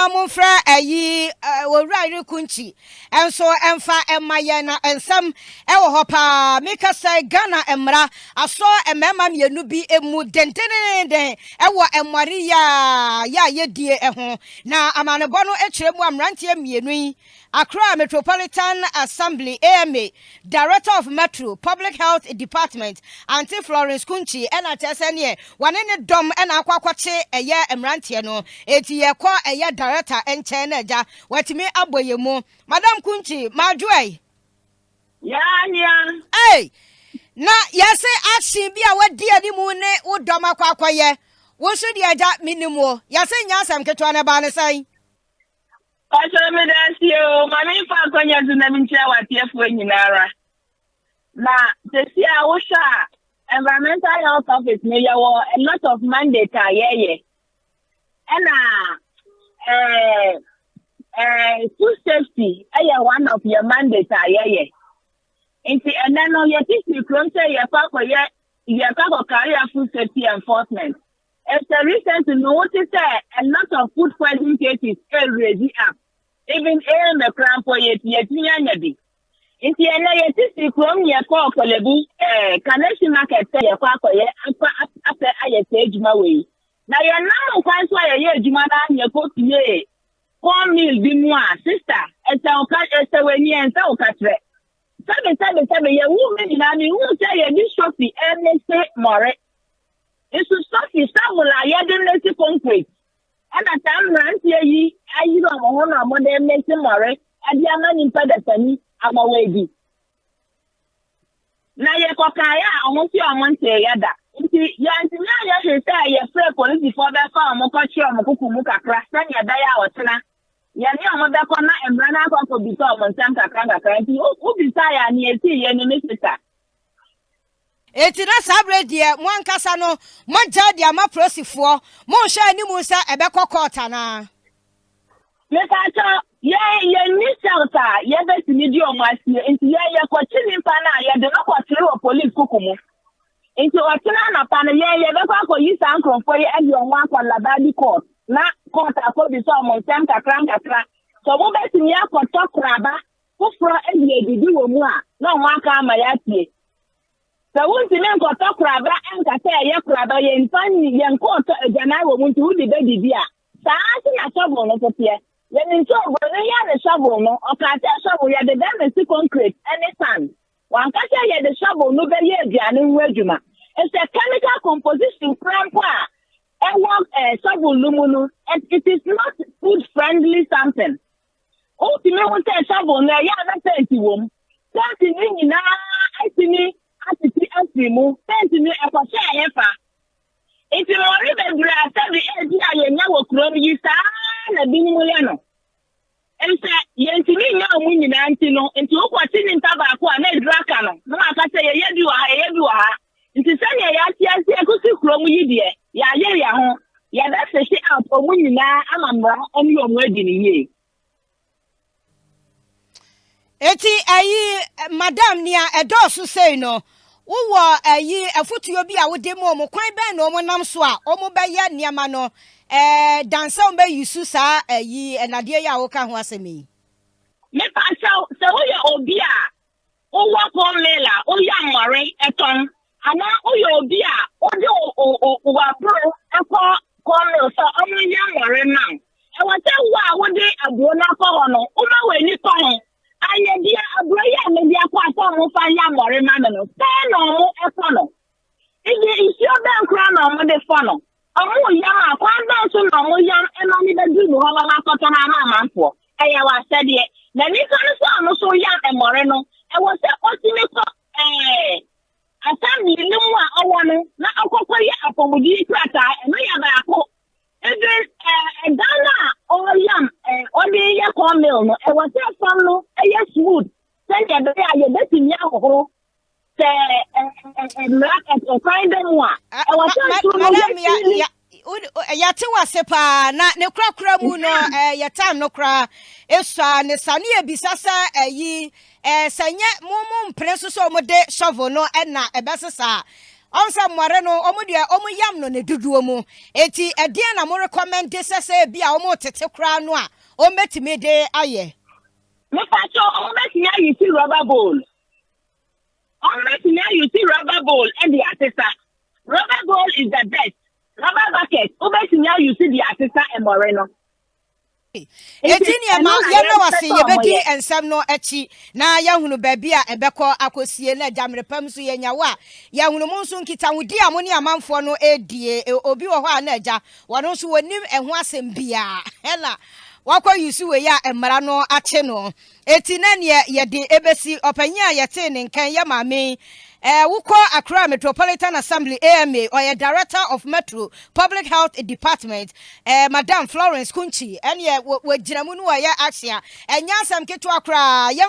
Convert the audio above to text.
na momfrɛ ayi owura yere kunkyi nso ɛmfa ɛma yɛn na nsɛm ɛwɔ hɔ paa meka sɛ Ghana mmara asɔ mmarima mmienu bi mu dendenenden ɛwɔ mmɔre yɛ a yɛ a yɛdie ɛho na amanebɔ no kyerɛ mu a mmeranteɛ mmienu yi Accra Metropolitan Assembly, AMA, Director of Metro, Public Health Department, Aunty Florence Kunchi na kyerɛ sɛ neɛ wɔne ne dɔm na akɔ akɔkye ɛyɛ mmeranteɛ no enti yɛkɔ ɛyɛ Director nkyɛn na agya watumi abɔ yɛn mu. Madam Kunchi, Madwoai. Yaa nea. Ei! Na yɛse action bi a wadi anim ne wo dɔm akɔ akɔyɛ. Wo nso deɛ agya mennim wo. Yɛse nyɛ asɛm ketewa na ɛbaa no sɛn? Pastor Medasi o, ma me mfa akwanya so na menkyia w'ateɛfoɔ nyinara. Na sɛsi a wohwɛ a environmental health office no yɛwɔ a lot of mandate a yɛyɛ. Ɛna eh, eh, food safety ɛyɛ one of yɛ mandate a yɛyɛ. Nti ɛnɛ no yɛtete kurom sɛ yɛkɔ akɔyɛ yɛkɔ akɔkare a food safety enforcement. Ese recently no wo te sɛ a lot of food poison cases e raise up even eeme koraa mpo ye ti yɛtumi anya bi nti ɛnɛ yɛte si kurom yɛ kɔɔ kɔlɛbu eh, kaneshi market sɛ yɛkɔ akɔyɛ akɔ apɛ ayɛ saa adwuma wei na yɛnam nkwan so a yɛyɛ adwuma no a yɛkɔ pie corn meal bi mu a sister ɛsɛ wo ka ɛsɛ w'ani ɛnsɛ wo kakyerɛ sɛbesɛbesɛbe yɛwo me nyinaa mehu sɛ yɛde sofi ɛne se mmɔre nso sɔfi sawol a yɛde mmesi konkret ɛna saa mmeranteɛ yi ayiri ɔmo ho na ɔmo de mmesi mmɔre ɛde ama nipa dasani ama wɔadi na yɛkɔkaeɛ a ɔmo se ɔmo nteeɛ da nti yɛntumi anyɛ hwee sɛ yɛfrɛ polisifoɔ bɛfa ɔmo kɔkye ɔmo koko mu kakra sɛnea ɛbɛyɛ a ɔkyena yɛne ɔmo bɛkɔ na mmara no akɔ akɔbisa ɔmo nsɛm kakra kakra nti wobisa yɛ a nea ɛsii yɛ no ne sisa Enti na saa bere deɛ mo ankasa no moagyae de ama polosifoɔ, monhwɛ anim sɛ ɛbɛkɔ kɔɔt anaa? Mepakyɛ, yɛn yɛnni sɛlt a yɛbɛtumi de wɔn asie, nti yɛn yɛkɔkye nipa no a yɛde no kɔtere wɔ polis kuku mu. Nti ɔkyena anɔpa no yɛn yɛbɛkɔ akɔyi saa nkurɔfoɔ yi ɛde wɔn akɔ Labadi kɔɔt na kɔɔt akɔbisa wɔn nsɛm kakra nkakra sɛ wɔbɛtumi akɔtɔ koraba foforɔ de adidi wɔ mu a, na wɔn aka ama yɛatie. Sɛ wontumi nkɔtɔ koraba nka sɛ ɛyɛ koraba, yɛmfa nni, yɛnkɔɔtɔ agyanan wɔ mu nti wode bɛdidi a, saa ara nso na shovel no nso teɛ. Yɛnim sɛ oburoni yi ne shovel no, ɔkaa sɛ shovel yɛde bɛmese concrete ne sand. Wanka sɛ yɛde shovel no bɛyɛ aduane ho adwuma. Ɛsɛ chemical composition koraa mpo a ɛwɔ eh, shovel no mu no, it is not food friendly something. wotumi ho sɛ shovel no ɛyɛ a na pɛnti wɔ mu pɛnti no nyinaa atumi atete afiri mu pɛnti no ɛkɔhyɛ ayɛ fa nti mmɔre bebree a sɛbi ɛdi a yɛnya wɔ kurom yi saa na binom yɛ no nsɛ yɛntumi nya wɔn nyinaa nti no nti wokɔte nipa baako a na aduru aka no na waka sɛ yɛyɛ bi wɔ ha yɛyɛ bi wɔ ha Nti sɛdeɛ yɛate aseɛ kɔsi kuro mu yi deɛ, yɛayere yɛn ho, yɛbɛfehye out wɔn nyinaa ama mmara ne wɔn adi no yie. Eti ɛyi madam nea ɛdɔɔso sei no wowɔ ɛyi afutuo bi a wode mu ɔmo kwan bɛn na ɔmo nam so a ɔmo bɛyɛ nneɛma no ɛɛ dansɛ ɔmo bɛyi su saa ɛyi ɛnadeɛ yi a woka ho asɛm yi. Mepa kyɛw sɛ woyɛ obi a wowɔ corn meal a woyɛ mmɔre tɔn anaa woyɛ obi a wode w'aburo kɔ corn meal sɛ ɔmo nyɛ mmɔre ma wo ɛwɔ sɛ wo a wode aburo no akɔ hɔ no woma w'ani kɔ ho ayɛdeɛ aburo yi a mede akɔ a sɛ ɔmo fa yɛ mmɔre ma me no sɛn na ɔmo kɔ no Eye nsuo bɛn koraa na wɔde fɔ no? Wɔyam a, kwan bɛn so na wɔyam ma no bɛduru mo hɔ ma moakɔtɔn ama amanfoɔ? Ɛyɛ w'asɛdeɛ. Na nnipa no nso a wɔso yam mmɔre no, ɛwɔ sɛ ɔtumi kɔ ɛɛ assembly no mu a ɔwɔ no na ɔkɔkɔyɛ apɔmuden krataa. Ɛno yɛ baako. Ebe ɛɛ dan no a ɔyam ɛɛ ɔde yɛ corn meal no, ɛwɔ sɛ fam no yɛ smooth. sɛnea ɛbɛyɛ a yɛbɛtumi ahohoro sɛ mmara ɛkwan bɛ mu a ɛwɔ sɛ nso no yɛtumi yɛte wase paa na ne korakora mu no yɛ time no koraa esua ne sa ne yɛbisa sɛ ɛyi sɛ nyɛ mo mo mpene nso sɛ wɔde shovel no ɛna ɛbɛsesa ɔn sɛ mmɔre no wɔn deɛ wɔn yam no ne dodoɔ mu eti ɛdeɛn na mo rekɔmɛnde sɛ sɛ ebi a wɔn tete koraa no a wɔn bɛtumi de ayɛ. Mepacho ɔmo bɛtumi ayi si rubber bowl. Ɔmo bɛtumi ayi si rubber bowl ɛde asesa. Rubber bowl is the best. Rubber bucket wobɛtumi ayi si de asesa ɛmɔre no. Enti nneɛma yɛn na wɔse yɛbɛdi nsɛm no akyi na yɛahunu baabi a ɛbɛkɔ akɔsie na agya mmerɛ pa mu nso yɛanya wo a yɛahunu mo nso nkitahodi a mo ne amanfoɔ no ɛredie obi wɔ hɔ a na agya Wɔno nso wɔnim ɛho asɛm biaa ɛna wakɔ use wei a mmara no akye no. Eti na neɛ yɛde ɛbɛsi ɔpanyin a yɛtee ne nkan yɛ maame yi. Ɛɛ wokɔ Accra Metropolitan Assembly, AMA, ɔyɛ Director of Metro Public Health Department, ɛɛ Madam Florence Kunci ɛneɛ wɔ wɔgyina mu ne wɔyɛ action. Ɛnyɛ asɛm ketewa koraa. Yɛn.